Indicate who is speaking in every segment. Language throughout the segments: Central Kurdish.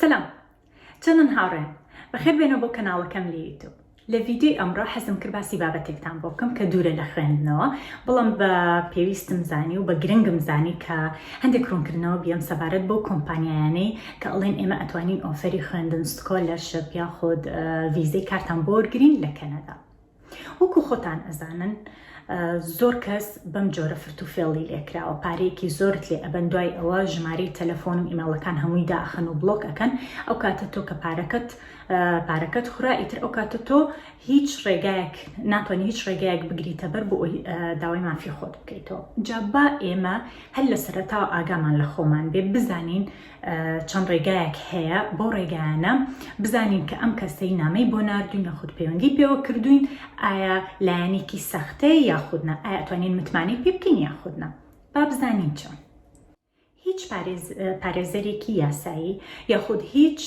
Speaker 1: سلام چەنن هاوڕێن بەخێر بێنەوە بۆ کەناڵەکەم لە یوتوب لە ڤیددیوی ئەمڕۆ حەزم کرد باسی بابەتێکتان بۆ بکەم کە دوورە لە خوێندنەوە بڵم بە پێویستم زانی و بە گرنگم زانی کە هەندێک ڕوونکردنەوە بیەم سەبارەت بۆ کۆمپانیایانەی کە ئەڵێن ئێمە ئەتوانین ئۆفەری خوێندن سکۆلەرشپ یاخود ڤیزەی کارتان بۆرگرین لە کەنەدا وەکو خۆتان ئەزانن زۆر کەس بەم جۆرە فرت و فێڵی لێکراوە پارەیەکی زۆرت لێ ئەبەن دوای ئەوە ژمارەی تەلەفۆن و ئیمەڵەکان هەمووی داخن و بڵۆک ئەەکەن ئەو کاتە تۆ کە پارەکەت پارەکەت خورا ئیتر ئەو کاتە تۆ هیچ ڕێگایەک ناتوانانی هیچ ڕێگایەک بگریتە بەر بۆ ئەوی داوای مافی خۆت بکەیتەوە جابا ئێمە هەر لە سەرتاوە ئاگامان لە خۆمان بێ بزانین چەند ڕێگایەک هەیە بەو ڕێگایانە بزانین کە ئەم کەسەی نامەی بۆ نردوین یاخود پەیوەندی پێوە کردوین ئایا لایەنێکی سەختەیە یاخودنا ئاەتوانین متمانەی پێ بکەین یاخودنا با بزانین چۆن هیچ پارێزەرێکی یاسایی یاخود هیچ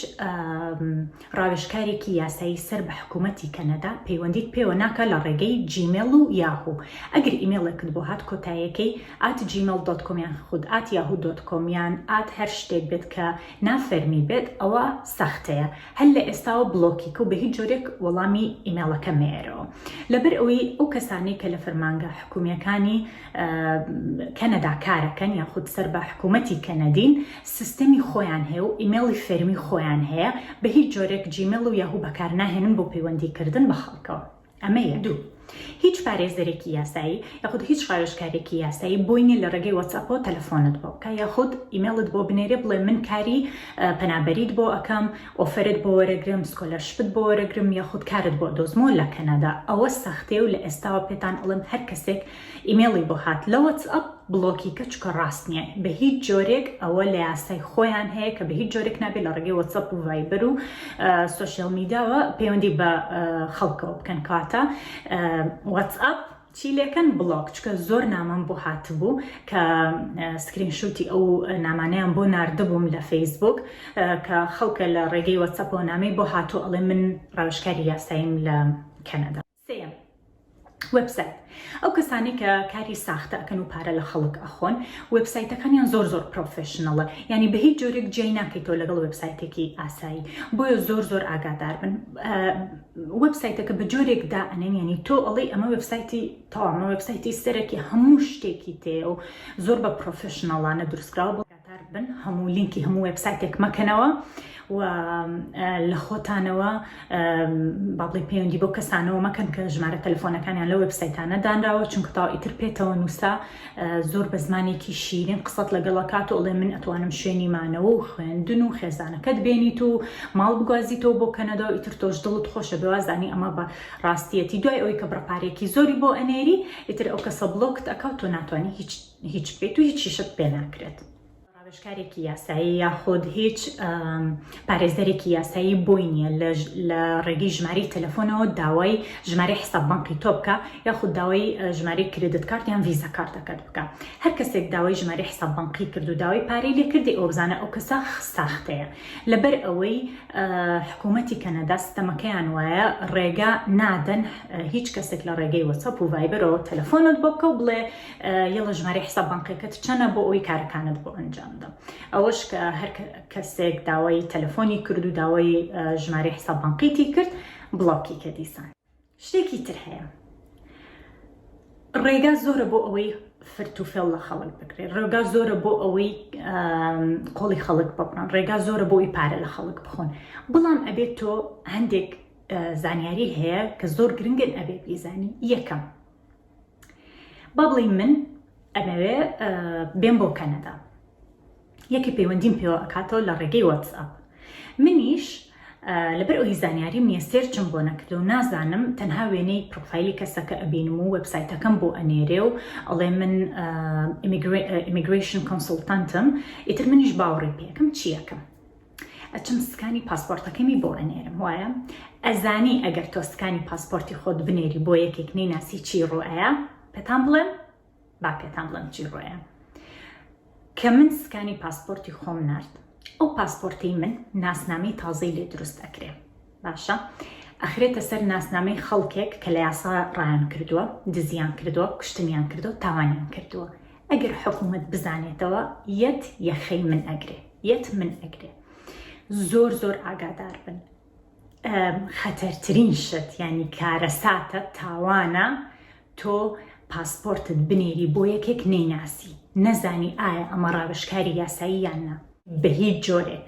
Speaker 1: ڕاوێژکارێکی یاسایی سەر بە حکوومەتی کەنەدا پەیوەندیت پێوە ناکا لە ڕێگەی جیمێڵ و یاهوو ئەگەر ئیمێڵێکت بۆ هات کۆتایەکەی ئات جیمێڵ دۆت کۆم یان خود ئات یاهوو دۆت کۆم یان ئات هەر شتێک بێت کە نا فەرمی بێت ئەوە سەختەیە هەر لە ئێستاوە بڵۆکی کە و بە هیچ جۆرێک وەڵامی ئیمێڵەکە مەیەرەوە لەبەر ئەوەی ئەو کەسانەی کە لە فەرمانگە حکوومییەکانی کەنەدا کارەکەن یاخود سەر بە حکوومەتی کەنەدین سیستەمی خۆیان هەیە و ئیمێڵی فەرمی خۆیان هەیە بە هیچ جۆرێک جیمێڵ و یاهوو بەکار ناهێنن بۆ پەیوەندیکردن بە خەڵکەوە ئەمە یە دوو. هیچ پارێزەرێکی یاسایی یاخود هیچ ڕاوێژکارێکی یاسایی بۆی نیە لە ڕێگەی وەتسەپۆ تەلەفۆنت بۆ بکە یاخود ئیمێڵت بۆ بنێرێ بڵێ من کاری پەنابەریت بۆ ئەکەم ئۆفرت بۆ وەرەگرم سکۆلەرشپت بۆ وەرەگرم یاخود کارت بۆ دۆزمۆ لە کەنەدا ئەوە سەختێ و لە ئێستاوە پێتان ئەڵم هەر کەسێک ئیمێڵی بۆ هات لە وەتس ئەپ بڵۆکی کە چکە ڕاست نییە بە هیچ جۆرێک ئەوە لە یاسای خۆیان هەیە کە بە هیچ جۆرێک نابێت لە ڕێگەی وەتسەپ و ڤایبەر و سوسیال میداوە پەیوەندی بە خەڵکەوە بکەن کاتە وەتس ئەپ چی لەکەن بڵۆک چکە زۆر نامەم بۆ هاتبوو کە سکرین شوتی ئەو نامانیان بۆ نردبووم لە فەیسبوک کە خەڵکە لە ڕێگەی وەچەپۆ نامی بۆ هاتو ئەڵێ من ڕاوشکاری یاساییم لە کەنەدا سێیەم، وێبسایت، ئەو کەسانەی کە کاری ساختە ئەکەن و پارە لە خەڵک ئەخۆن، وێبسایتەکانیان زۆر زۆر پرۆفێشنەڵە، یانی بە هیچ جۆرێک جیای ناکەیتەوە لەگەڵ وێبسایتێکی ئاسایی، بۆیە زۆر زۆر ئاگادار بن، وێبسایتەکە بە جۆرێک دائەنێن یانی تۆ ئەڵێی ئەمە وێبسایتی تەواو، ئەمە وێبسایتی سەرەکی هەموو شتێکی تێیە و زۆر بە پرۆفێشنەڵانە دروستکراوە. بەشدار بن هەموو لینکی هەموو وێبسایتێک مەکەنەوە و لە خۆتانەوە بابڵی پەیوەندی بۆ کەسانەوە مەکەن کە ژمارە تەلفۆنەکانیان لە وێبسایتانە دانراوە چونکە تاو ئیتر پێێتەوە نووسا زۆر بە زمانێکی شیرین قسەت لەگەڵە کات و ئەڵێ من ئەتوانم شوێنی مانەوە و خوێندن و خێزانەکەت بێنیت و ماڵ بگوازیتەوە بۆ کەنەدا و ئیتر تۆش دڵت خۆشە بەوازانی ئەمە بە ڕاستیەتی دوای ئەوی کە بڕپارێکی زۆری بۆ ئەنێری ئیتر ئەو کەسە بڵۆکت ئەکەوت و ناتوانانی هیچ هیچ بکەیت و هیچیشت پێ ناکرێت. ڕاوێژکارێکی یاسایی یاخود هیچ پارێزەرێکی یاسایی بۆی نییە لە ڕێگەی ژماری تەلەفۆنەوە داوای ژماری حساب بانقی تۆ بکە یاخود داوای ژماری کردت کارت یان ویزە کارتەکەت بکە هەر کەسێک داوای ژماری حساب بانقی کرد و داوای پارەی لێ کردی ئەو بزانە ئەو کەسە ساختەیە لەبەر ئەوەی حکوومەتی کەنەدا ستەمەکەیان وایە ڕێگا نادەن هیچ کەسێک لە ڕێگەی وەسەپ و ڤایبەرەوە تەلەفۆنت بۆ بکە و بڵێ یەڵە ژمارەی حساب بانقیەکەت چەنە بۆ ئەوی کارەکانت بۆ ئەنجامدا ئەوەش کە هەر کەسێک داوای تەلەفۆنی کرد و داوای ژمارەی حساب بانقیتی کرد بڵاوکی کە دیسان شتێکی تر هەیە ڕێگا زۆرە بۆ ئەوەی فرت و فێڵ لە خەڵک بکرێت ڕێگا زۆرە بۆ ئەوەی قۆڵی خەڵک بکڕن ڕێگا زۆرە بۆی پارە لە خەڵک بخۆن بڵام ئەبێت تۆ هەندێک زانیاری هەیە کە زۆر گرنگن ئەبێت بیزانی یەکەم با بڵێ من ئەمەوێ بێن بۆ کەنەدا یەکی پەیوەندیم پێوە ئەکاتەوە لە ڕێگەی واتسئاپ منیش لەبەر ئەوی زانیاریم نیە سێرچم بۆ نەکردو نازانم تەنها وێنەی پرۆفایلی کەسەکە ئەبینم و وبسایتەکەم بۆ ئەنێرێ و ئەڵێ من ئیمیگریشن کۆنسلتانتم ئیتر منیش باوەڕی پێکم چیەکەم ئەچم سکانی پاسپۆرتەکەمی بۆ ئەنێرم وایە ئەزانی ئەگەر تۆ سکانی پاسپۆرتی خۆت بنێری بۆ یەکێک نەی ناسی چی ڕۆایە پێتان بڵێم با پێتان بڵێم چی ڕۆیە کە من سکانی پاسپۆرتی خۆم نرد ئەو پاسپۆرتی من ناسنامەی تازەی لێ دروست ئەکرێ باشە ئەخرێتە سەر ناسنامەی خەڵکێک کە لە یاسا ڕایان کردووە دزیان کردووە کوشتنیان کردو تاوانیان کردووە ئەگەر حکوومەت بزانێتەوە یەت یەخەی من ئەگرێ یەت من ئەگرێ زۆر زۆر ئاگادار بن خەتەرترین شت ینی کارەساتە تاوانە تۆ پاسپۆرتت بنێری بۆ یەکێک نەیناسی نەزانی ئایا ئەمە ڕاوشکاری یاسایی یان نا بە هیچ جۆرێک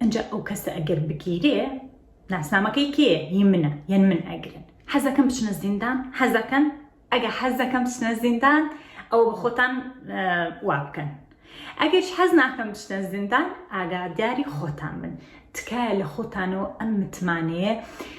Speaker 1: ئەنجا ئەو کەسە ئەگەر بگیرێ ناسنامەکەی کێ هی منە یەن من ئەگرن حەزەکەم بچنە زیندان حەزەکەن ئەگە حەزەکەم بچنە زیندان ئەو خۆتان وا بکەن ئەگەش حەز ناکەم بچنە زیندان ئاگاداری خۆتان من تکایە لە خۆتانەوە ئەم متمانەیە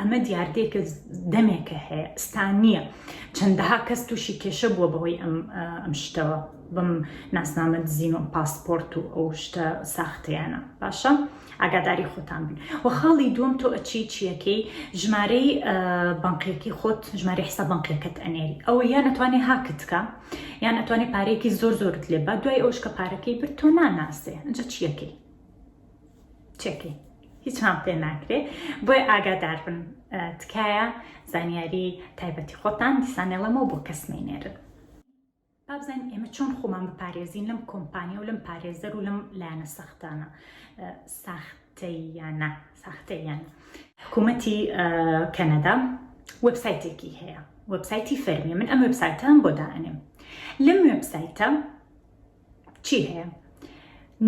Speaker 1: ئەمە دیاردەیەکە دەمێکە هەیە ئستا نییە چەندەها کەس تووشی کێشە بووە بەوەی ئەم ئەم شتەوە بم ناسنامە دزین و پاسپۆرت و ئەو شتە ساختەیانە باشە ئاگاداری خۆتان بن و خاڵی دووەم تۆ ئەچی چیەکەی ژمارەی بنقێکی خۆت ژماری حسا بنقێکت ئەنێری ئەوە یان ئەتوانێ هاکتکە یان ئەتوانێت پارێکی زۆر زۆرت لێ بە دوای ئەوش کە پارەکەی برد تۆ ناناسێ ئەجا چیەکەی چێکەی هیچان پێ ناکرێ بۆی ئاگادار بن تکایە زانیاری تایبەتی خۆتان دیسانەڵەمە بۆ کەس نینێرن بابزان ئێمە چۆن خۆمان بپارێزین لەم کۆمپانیا و لەم پارێزەر و لەم لایەنە سەختانە ساختەیانە ساختەیان حکوومەتی کەنەدا وەبسایتێکی هەیە وەبسایتی فەرمی من ئەم وەبسایتان بۆ داانێم لەم وەبسایتە چی هەیە؟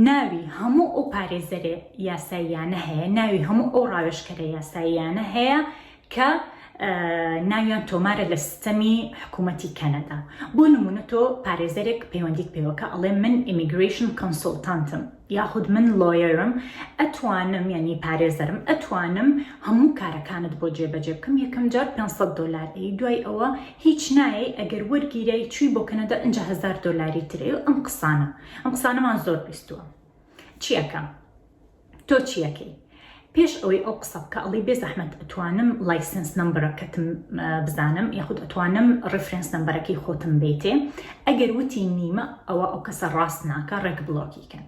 Speaker 1: ناوی هەموو ئەو پارێزەرە یاساییانە هەیە، ناوی هەموو ئەو ڕاوێژکەرە یاساییانە هەیە کە ناویان تۆمارە لە سیستەمی حکوومەتی کەنەدا بۆ نمونە تۆ پارێزەرێک پەیوەندیت پێوەکە ئەڵێ من ئیمیگریشن کۆنسلتانتم یاخود من لۆیەرم ئەتوانم یعنی پارێزەرم ئەتوانم هەموو کارەکانت بۆ جێبەجێ بکەم یەکەم جار 500 دلار دوای ئەوە هیچ نایەی ئەگەر وەرگیرای چوی بۆ کەنەدا ئنجا هەزار دۆلاری ترەی و ئەم قسانە ئەم قسانەمان زۆر بیستوە چی ئەکەم تۆ چی ئەکەی پێش ئەوەی ئەو قسە بکە ئەڵی بێ زەحمەت ئەتوانم لایسنس نمبرەکەتم بزانم یاخود ئەتوانم ڕفرنس نمبەرەکەی خۆتم بیتێ ئەگەر وتی نیمە ئەوە ئەو کەسە ڕاست ناکە ڕێک بڵۆکی کەن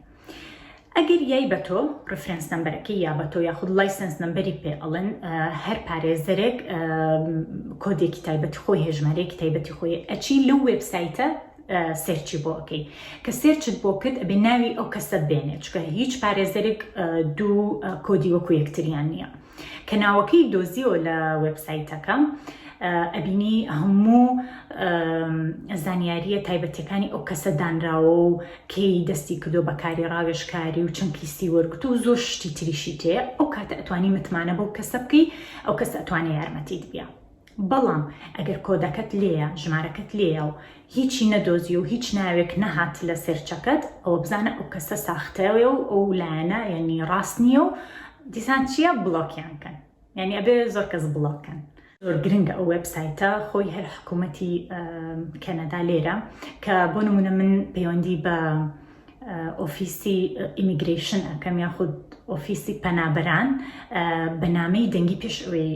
Speaker 1: ئەگەر یای بە تۆ ڕفرەنس نمبەرەکە یا بە تۆ یاخود لایسنس نمبەری پێ ئەڵێن هەر پارێزەرێک کۆدێکی تایبەتی خۆی هێژمارەیەکی تایبەتی خۆی ئەچی لەو وبسایتە سێرچی بۆ ئەەکەی کە سێرچت بۆ کرد ئەبێ ناوی ئەو کەسە بێنێت چکە هیچ پارێزەرێک دوو کۆدی وەکو یەکتریان نییە. کە ناوەکەی دۆزیەوە لە وێبسایتەکە ئەبینی هەموو زانیاریە تایبەتەکانی ئەو کەسە دانراوە و کەی دەستی کردو بەکاری ڕاوێشکاری و چەند پیسی وەرگتو و زۆر شتی تریشی تێ ئەو کاتە ئەتوانی متمانە بەو کەسە بکەی ئەو کەس ئەتوانێ یارمەتیت بیا بەڵام ئەگەر کۆدەکەت لێیە، ژمارەکەت لێیە و هیچی نەدۆزی و هیچ ناوێک نەهات لە سێرچەکەت، ئەوە بزانە ئەو کەسە ساختەیە و ئەو لایەنە یانی ڕاست نییە و دیسان چییە بڵۆکیان کەن. یانی ئەبێ زۆر کەس بڵۆک کەن. زۆر گرنگە ئەو وێبسایتە خۆی هەر حکوومەتی کەنەدا لێرە کە بۆ نموونە من پەیوەندی بە، ئۆفیسی ئیمیگرەیشن ئەکەم یاخود ئۆفیسی پەنابەران بە نامەی دەنگی پێش ئەوەی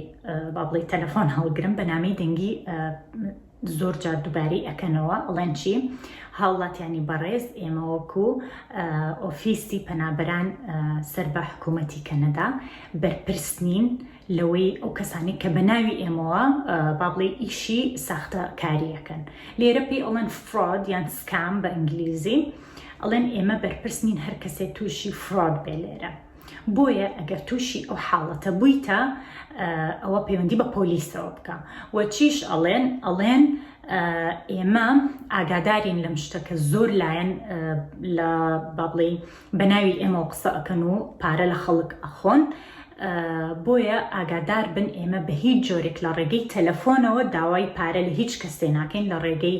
Speaker 1: با بڵی تەلەفۆن هەڵگرم بە نامەی دەنگی زۆر جار دووبارەی ئەەکەنەوە ئەڵێن چی هاوڵاتیانی بەڕێز ئێمەوەکو ئۆفیسی پەنابەران سەر بە حکوومەتی کەنەدا بەرپرس نین لەوەی ئەو کەسانەی کە بە ناوی ئێمەوە با بڵێ ئیشی ساختە کاریەکەن لێرە پێی ئەڵێن فرۆد یان سکام بە ئینگلیزی ئەڵێن ئێمە بەرپرس نین هەر کەسێ تووشی فرۆد بێ لێرە بۆیە ئەگەر تووشی ئەو حاڵەتە بوویتە ئەوە پەیوەندی بە پۆلیسەوە بکە وەچیش ئەڵێن ئەڵێن ئێمە ئاگادارین لەم شتەکە زۆر لایەن لە بابڵی بەناوی ئێمەوە قسە ئەکەن و پارە لە خەڵک ئەخۆن بۆیە ئاگادار بن ئێمە بە هیچ جۆرێک لە ڕێگەی تەلەفۆنەوە داوای پارە لە هیچ کەسێ ناکەین لە ڕێگەی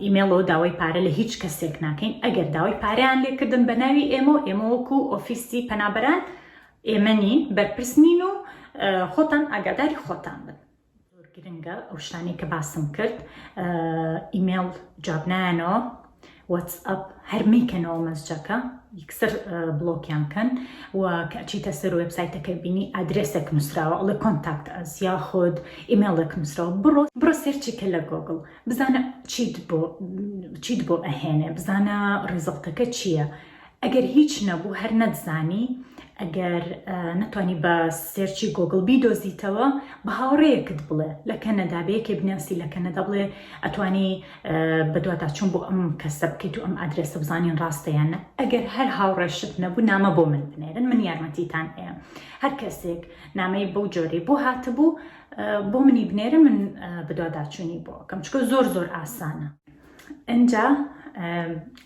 Speaker 1: ئیمێڵەوە داوای پارە لە هیچ کەسێک ناکەین ئەگەر داوای پاریان لێکردن بە ناوی ئێمە و ئێمەوەکو ئۆفیسی پەنابەران ئێمە نین بەرپرس نین و خۆتان ئاگاداری خۆتان بن زۆر گرنگە ئەو شتانەی کە باسم کرد ئیمێڵ جواب نایەنەوە وەتسئەپ هەر میکەنەوە مەسجەکە یکسەر بڵۆکیان کەن و کەچیتە سەر وبسایتەکە بینی ئادرسێک نووسراوە ئەڵێ کۆنتاکت ئەس یا خۆد ئیمێڵێک نووسراوە بڕۆ بڕۆ سێرچی کە لە گۆگل بزانە چیت بۆ چیت بۆ ئەهێنێ بزانە ڕیزڵتەکە چییە؟ ئەگەر هیچ نەبوو هەر نەتزانی ئەگەر نەتوانی بە سێرچی گۆگل بیدۆزیتەوە بە هاوڕەیەکت بڵێ لە کەنەدا بەیەکێ بناسی لە کەنەدا بڵێ ئەتوانی بەدواتا چون بۆ ئەم کەسە بکەیت و ئەم ئادرێسە بزانین ڕاستەیانە ئەگەر هەر هاوڕێشت نەبوو نامە بۆ من بنێرن من یارمەتیتان ئێم هەر کەسێک نامەی بەو جۆری بۆ هاتبوو بۆ منی بنێرە من بدواداچوونی بۆ کەم چکە زۆر زۆر ئاسانە ئینجا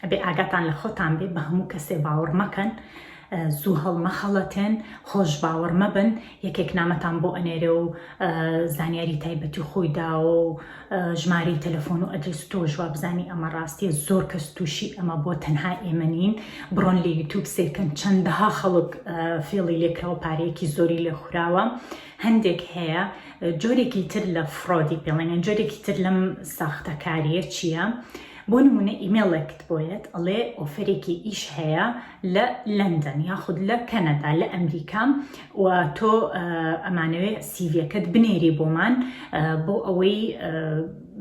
Speaker 1: ئەبێ ئاگاتان لە خۆتان بێ بە هەموو کەسێ باوەڕ مەکەن زوو هەڵمەخەڵەتێن خۆش باوەڕ مەبن یەکێک نامەتان بۆ ئەنێرێ و زانیاری تایبەتی خۆی داوە و ژماری تەلەفۆن و ئەدرس و تۆ ژوا بزانی ئەمە ڕاستیە زۆر کەس تووشی ئەمە بۆ تەنها ئێمە نین بڕۆن لە یوتوب سیرکەن چەندەها خەڵک فێڵی لێکراوە پارەیەکی زۆری لێ خوراوە هەندێک هەیە جۆرێکی تر لە فڕۆدی پێڵێنیان جۆرێکی تر لەم ساختەکاریە چییە؟ بۆ نمونە ئیمێڵێکت بۆیەت ئەڵێ ئۆفرێکی ئیش هەیە لە لەندەن یاخود لە کەنەدا لە ئەمریکا و تۆ ئەمانەوێ سیڤەکەت بنێری بۆمان بۆ ئەوەی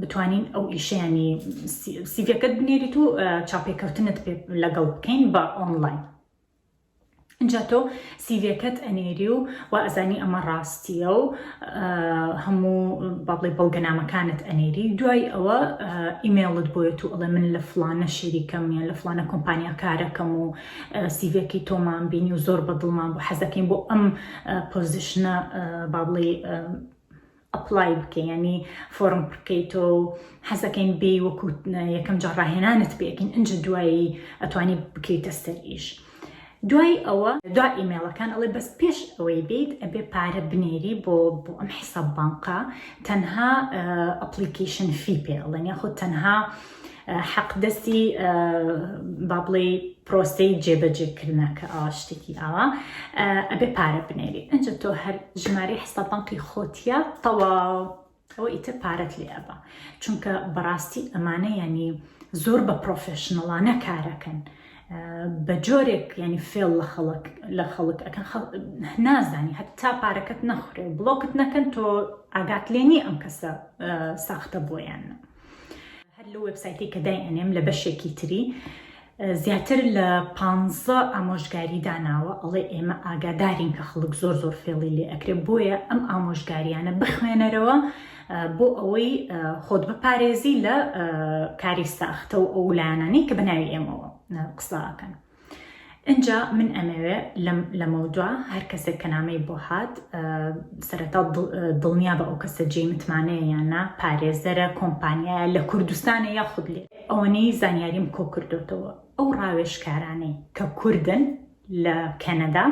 Speaker 1: بتوانین ئەو ئیشیانی سیڤەکەت بنێریت و چاپێکەوتنت لەگەڵ بکەین بە ئۆنلاین. ئینجا تۆ سیڤیەکەت ئەنێری و وا ئەزانی ئەمە ڕاستیە و هەموو با بڵێ بەڵگەنامەکانت ئەنێری دوای ئەوە ئیمێڵت بۆێت و ئەڵێ من لە فلانە شەریکەم یان لە فلانە کۆمپانیا کارەکەم و سیڤەکی تۆمان بینی و زۆر بە دڵمان بۆ حەزەکەین بۆ ئەم پۆزیشنە با بڵێ ئەپلای بکەی یانی فۆڕم پڕکەیتەوە و حەزەکەین بێی وەکو یەکەم جار ڕاهێنانت پێکەین ئەنج دوایی ئەتوانی بکەیتە سەر ئیش دوای ئەوە دوا ئیمێڵەکان ئەڵێ بەس پێش ئەوەی بیت ئەبێ پارە بنێری بۆ بۆ ئەم حیساب بانقا تەنها ئەپلیکیشن فی پێ ئەڵێن یاخود تەنها حەق دەستی با بڵێی پرۆسەی جێبەجێکردە کە ئاوا شتێکی ئاوا ئەبێ پارە بنێری ئەنج تۆ هەر ژماری حستا بانقی خۆتیە تەواو ئەوە ئیتر پارەت لێ ئەبا چونکە بەڕاستی ئەمانە ینی زۆر بە پرۆفشنڵانە کارەکەن. بە جۆرێک ینی فێڵ لە خەڵک لە خەڵک ئەەکە نازانی هەتا پارەکەت نەخورێ و بڵۆکت نەکەن تۆ ئاگات لێنی ئەم کەسە ساختە بۆیان. هەر لەو وێبسایتەی کە دایئەنێم لە بەشێکی تری زیاتر لە پانزە ئامۆژگاری داناوە ئەڵێ ئێمە ئاگادارین کە خەڵک زۆر زۆر فێڵی لێ ئەکرێ بۆیە ئەم ئامۆژگاریانە بخوێنەرەوە بۆ ئەوەی خۆت بپارێزی لە کاری ساختە و ئەو لایەنانەی کە بەناوی ئێمەوە قساکەن ئینجا من ئەمەوێ لەمەودوا هەر کەسێک کە نامەی بۆ هات سەرەتا دڵنیا بە ئەو کەسە جێی متمانەیە یاننا پارێزەرە کۆمپانیایە لە کوردستانە یا خود لێ ئەوەنەی زانیاریم کۆ کردوتەوە ئەو ڕاوێشکارانەی کە کوردن لە کەنەدا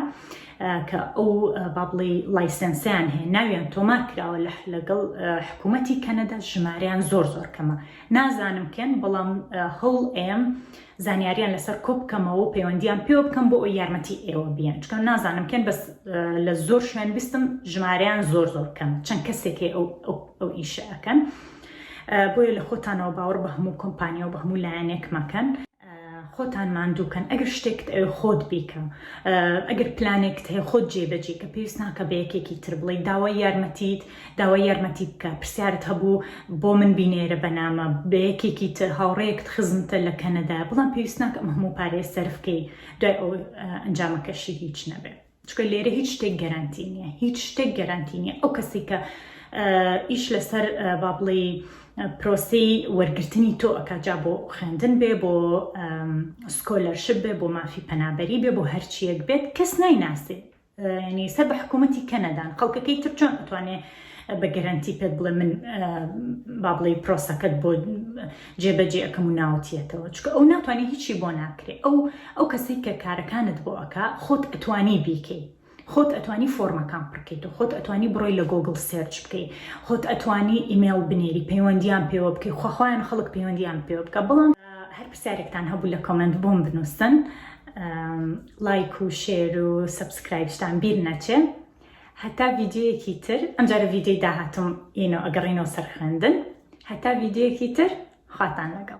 Speaker 1: کە ئەو بابڵی لایسنسیان هەیە ناویان تۆمار کراوە لە لەگەڵ حکوومەتتی کەنەدا ژماریان زۆر زۆر کەمە نازانم کەن بەڵام هەوڵ ئێم زانیاریان لەسەر کۆ بکەمەوە و پەیوەندیان پێوە بکەم بۆ ئەو یارمەتی ئێوە بیان چکە نازانم کێن بەس لە زۆر شوێن بیستم ژمارەیان زۆر زۆر کەم چەند کەسێکی ئەو ئەو ئیشە ئەەکەن بۆیە لە خۆتانەوە باوەڕ بە هەموو کۆمپانیا و بە هەموو لایەنێک مەکەن خۆتان ماندووکەن ئەگەر شتێکت ئەو خۆت بیکە ئەگەر پلانێکت هەیە خۆت جێبەجێ کە پێویست ناکە بە یەکێکی تر بڵی داوای یارمەتیت داوای یارمەتی بکە پرسیارت هەبوو بۆ من بینێرە بەنامە بە یەکێکی تر هاوڕێیەکت خزمتە لە کەنەدایە بڵام پێویست ناکە ئەم هەموو پارەیە سەرفکەی دوای ئەو ئەنجامەکەشی هیچ نەبێ چکە لێرە هیچ شتێک گەرانتی نییە هیچ شتێک گەرانتی نییە ئەو کەسی کە ئیش لەسەر با بڵێ پرۆسی وەرگرتنی تۆ ئەکجا بۆ خوێندن بێ بۆ سکۆلەرشپ بێ بۆ مافی پەنابەری بێ بۆ هەرچیەک بێت کەس نایناسێ یانی سەر بە حکومەتی کەنەدان خەڵکەکەی تر چۆن ئەتوانێ بە گەرەنتی پێت بڵێ من با بڵێ پرۆسەکەت بۆ جێبەجێ ئەەکەم و ناوتیەتەوە چکە ئەو ناتوانانی هیچی بۆ ناکرێ ئەو ئەو کەسی کە کارەکانت بۆ ئەک خۆت ئەتوانی بیکەی خۆت ئەتوانی فۆرمەکان پڕکەیت و خۆت ئەتوانی بڕۆی لە گۆگل سێرچ بکەی خۆت ئەتوانی ئیممەل بنێری پەیوەندیان پێوە بکەی خۆخوایان خەڵک پەیوەندیان پێوە بکە بڵام هەر پرسیارێکتان هەبوو لە کۆمنت بۆم بنووسن لایک و شێر و سەبسکرایبشتان بیر نەچێ هەتا ڤیدیۆیەکی تر ئەمجارە ڤیدیۆی داهاتوم ئینۆ ئەگەڕینەوە سەر خوێندن هەتا ڤیدیۆیەکی تر خواتان لەگەڵ